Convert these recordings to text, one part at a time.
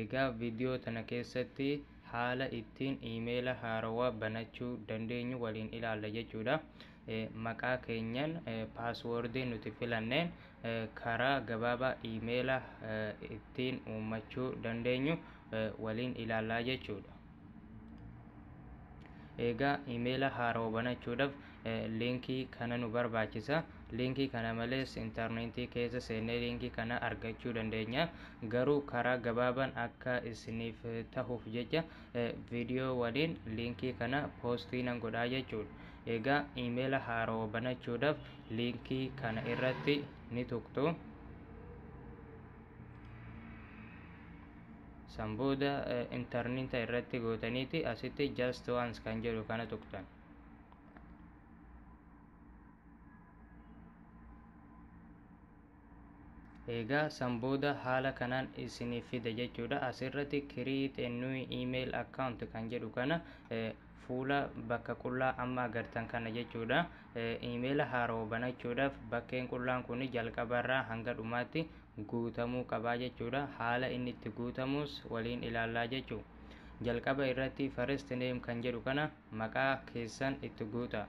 Egaa video tana keessatti haala ittiin emaila haarawaa banachuu dandeenyu waliin ilaalla jechuudha. Maqaa keenyan password nuti filanneen karaa gabaabaa emaila ittiin uummachuu dandeenyu waliin ilaallaa jechuudha. egaa imeela haarawa banachuudhaaf liinkii kana nu barbaachisa liinkii kana malees intarneetii keessa seennee liinkii kana argachuu dandeenya garuu karaa gabaabaan akka isiniif tahuuf jecha viidiyoo waliin liinkii kana poostii nan godhaa jechuudha egaa imeela haarawa banachuudhaaf liinkii kana irratti ni tuqtu San booda interneeta irratti gootaniiti asitti just once kan jedhu kana tuqxan. Egaa san booda haala kanaan isiniif fida jechuudha. Asirratti create a new email account kan jedhu kana Fuula bakka qullaa amma agartan kana jechuudha. Iimeela haarawa banachuudhaaf bakkeen qullaan kun jalqabarraa hanga dhumaatti guutamuu qabaa jechuudha. Haala inni itti guutamuus waliin ilaallaa jechu. Jalqaba irratti first name kan jedhu kana maqaa keessan itti guuta.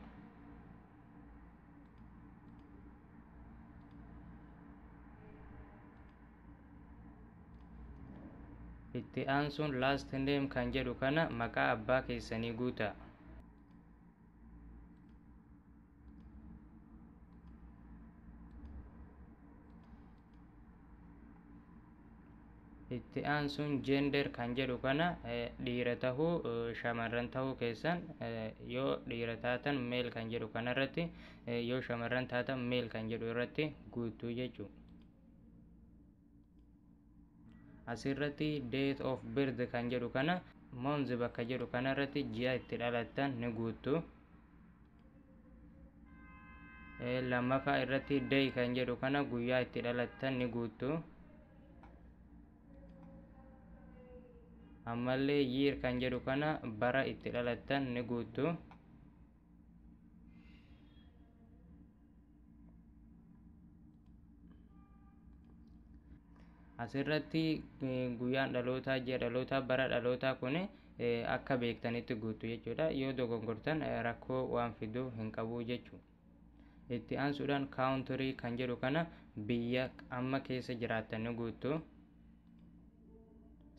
itti aansuun last name kan jedhu kana maqaa abbaa keessanii guutaa itti aansuun gender kan jedhu kana eh, dhiira tahuu eh, shamarran tahuu keessan eh, yoo dhiira taatan male kan jedhu kana irratti eh, yoo shamarran taatan male kan jedhu irratti guutuu jechuudha. asirratti date of birth kan jedhu kana month bakka jedhu kana irratti ji'a itti dhalattan ni guuttu lammaffaa irratti day kan jedhu kana guyyaa itti dhalattan ni guuttu ammallee year kan jedhu kana bara itti dhalattan ni guuttu asirratti guyyaan dhalootaa ji'a dhalootaa bara dhalootaa kun akka beektanitti guutu jechuudha yoo dogongortan rakkoo waan fiduu hin qabu jechuudha itti aansuudhaan kaawuntirii kan jedhu kana biyya amma keessa jiraattan guutu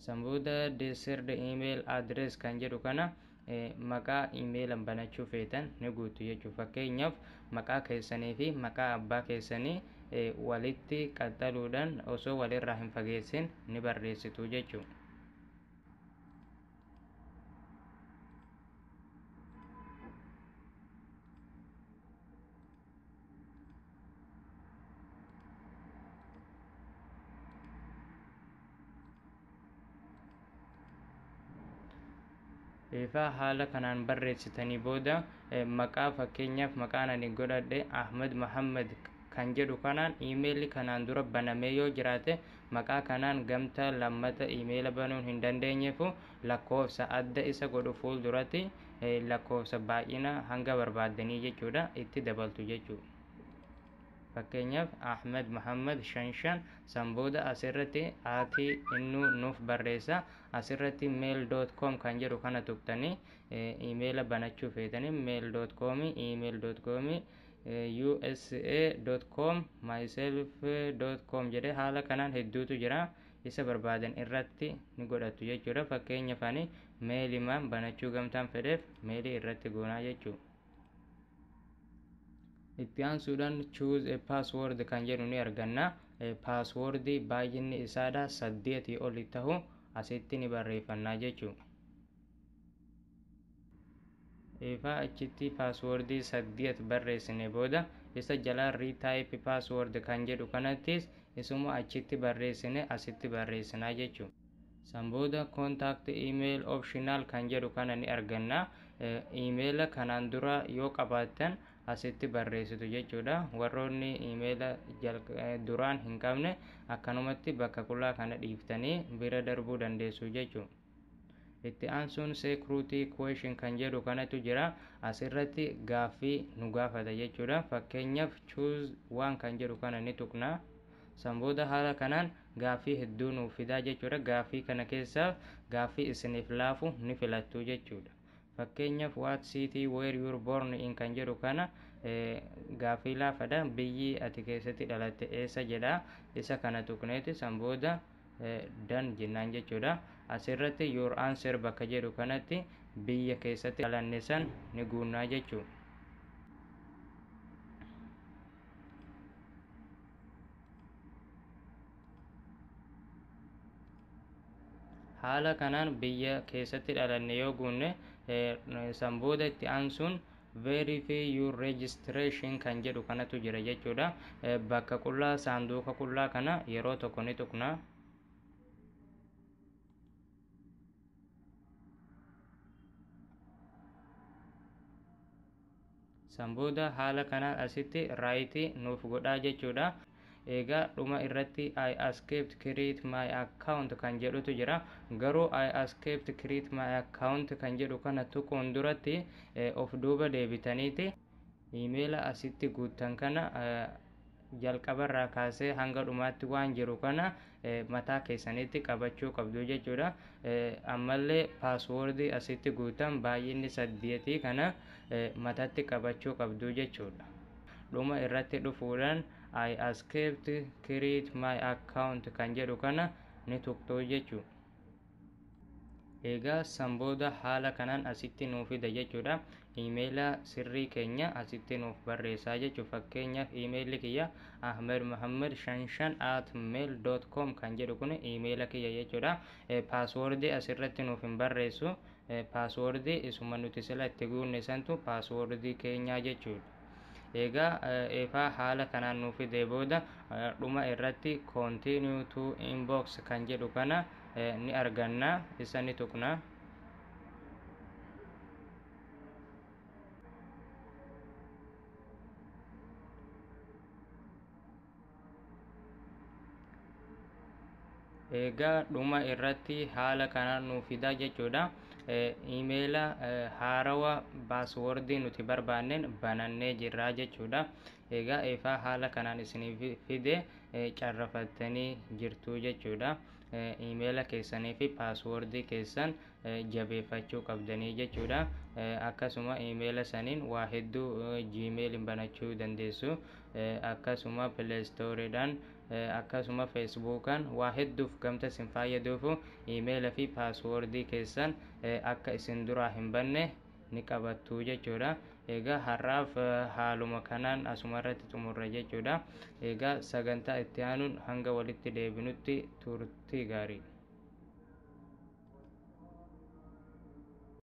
san booda desird email address kan jedhu kana maqaa imeelan banachuu feetan ni guutu jechuuf fakkeenyaaf maqaa keessanii fi maqaa abbaa keessanii walitti qaxxaluudhaan osoo walirraa hin fageessin ni barreessitu jechuu egaa haala kanaan barreessitanii booda eh, maqaa fakkeenyaaf maqaan ani godhadhe ahmed mahammad kan jedhu kanaan iimeelli kanaan dura banamee yoo jiraate maqaa kanaan gamtaa lammata iimeela banuun hin dandeenyeefu lakkoofsa adda isa godhu fuulduratti lakkoofsa baay'ina hanga barbaaddanii jechuudha itti dabaltu jechuu fakkeenyaaf ahmed muhammad shan shan san booda asirratti ati innuu nuuf barreessa asirratti mail dot com kan jedhu kana tuqtanii imeela banachuu feetanii mail dot com email dot com usa dot com myself dot com jedhee haala kanaan hedduutu jira isa barbaadan irratti ni godhattu jechuudha fakkeenyaaf ani meeli maan banachuu gamtaan fedheef meeli irratti goonaa jechuu itti aansuudhaan choose a password kan jedhu ni arganna password baay'inni isaadha saddeetii oli tahu asitti ni barreeffannaa jechuudha Eefaa achitti paaswoordii saddeet barreessine booda isa jalaa retype password kan jedhu kanattis isuma achitti barreessine asitti barreessinaa jechuudha. San booda contact email optional kan jedhu kana ni arganna. Imeela kanaan dura yoo qabaattan asitti barreessitu jechuudha. Warroonni imeela duraan hin qabne akkanumatti bakka qulaa kana dhiiftanii bira darbuu dandeessu jechuudha. Itti aansuun security question kan jedhu kanatu jira. As irratti gaaffii nu gaafata jechuudha. Fakkeenyaaf choose waan kan jedhu kana ni tuqna. San booda haala kanaan gaaffii hedduu nuuf fidaa jechuudha. Gaaffii kana keessaa gaaffii isiniif laafu ni filattu jechuudha. Fakkeenyaaf what city where you were born in kan jedhu kana gaaffii laafadha. Biyyi ati keessatti dhalatte eessa jedha. Isa kana tuqneeti san booda dan jennaan jechuudha asirratti your answer bakka jedhu kanatti biyya keessatti dhalanne san ni guunnaa jechuu haala kanaan biyya keessatti dhalanne yoo guunne san booda itti aansuun Verify your registration kan jedhu kanatu jira jechuudha. Bakka qullaa saanduuqa qullaa kana yeroo tokko ni tuqna. San booda haala kanaan asitti raayitii nuuf godhaa jechuudha. Eegaa dhuma irratti I escaped create my account kan jedhutu jira. Garuu I escaped create my account kan jedhu kana tuquun duratti of duuba deebitaniiti iimeela asitti guuttan kana jalqabarraa kaasee hanga dhumaatti waan jiru kana mataa keessanitti qabachuu qabdu jechuudha. Ammallee password asitti guutan baay'inni saddeetii kana matatti qabachuu qabdu jechuudha. Dhuma irratti dhufuudhaan I accept create my account kan jedhu kana ni tuqxuu jechuudha. egaa san booda haala kanaan asitti nuu fida jechuudha imeela sirrii keenya asitti nuuf barreessaa jechuu fakkeenyaaf imeelli kiyya ahmed muhammad shanshan at mail dot com kan jedhu kun imeela kiyya jechuudha paaswoordii asirratti nuuf hin barreessu paaswoordii isuma nuti sila itti guunne santu paaswoordii keenyaa jechuudha Eegaa eefaa haala kanaan nuu fidee booda dhuma irratti continue to inbox kan jedhu kana ni arganna isa ni tuqna. egaa dhuma irratti haala kanaan nuuf fidaa jechuudha imeela haarawa baaswoordii nuti barbaanneen banannee jirraa jechuudha egaa eefaa haala kanaan isiniif fide carrafattanii jirtuu jechuudha imeela keessanii fi paaswoordii keessan jabeeffachuu qabdanii jechuudha. Akkasuma imeela saniin waa hedduu Gmail'n banachuu dandeessu. Akkasuma Play Store'dhaan akkasuma Facebook'aan waa hedduuf gamta isin faayyaduufu imeela fi passwordii keessan akka isin duraa hin banne ni qabattu jechuudha. Egaa har'aaf haaluma kanaan asuma irratti xumurra jechuudha. Egaa sagantaa itti aanuun hanga walitti deebinutti turtii gaarii.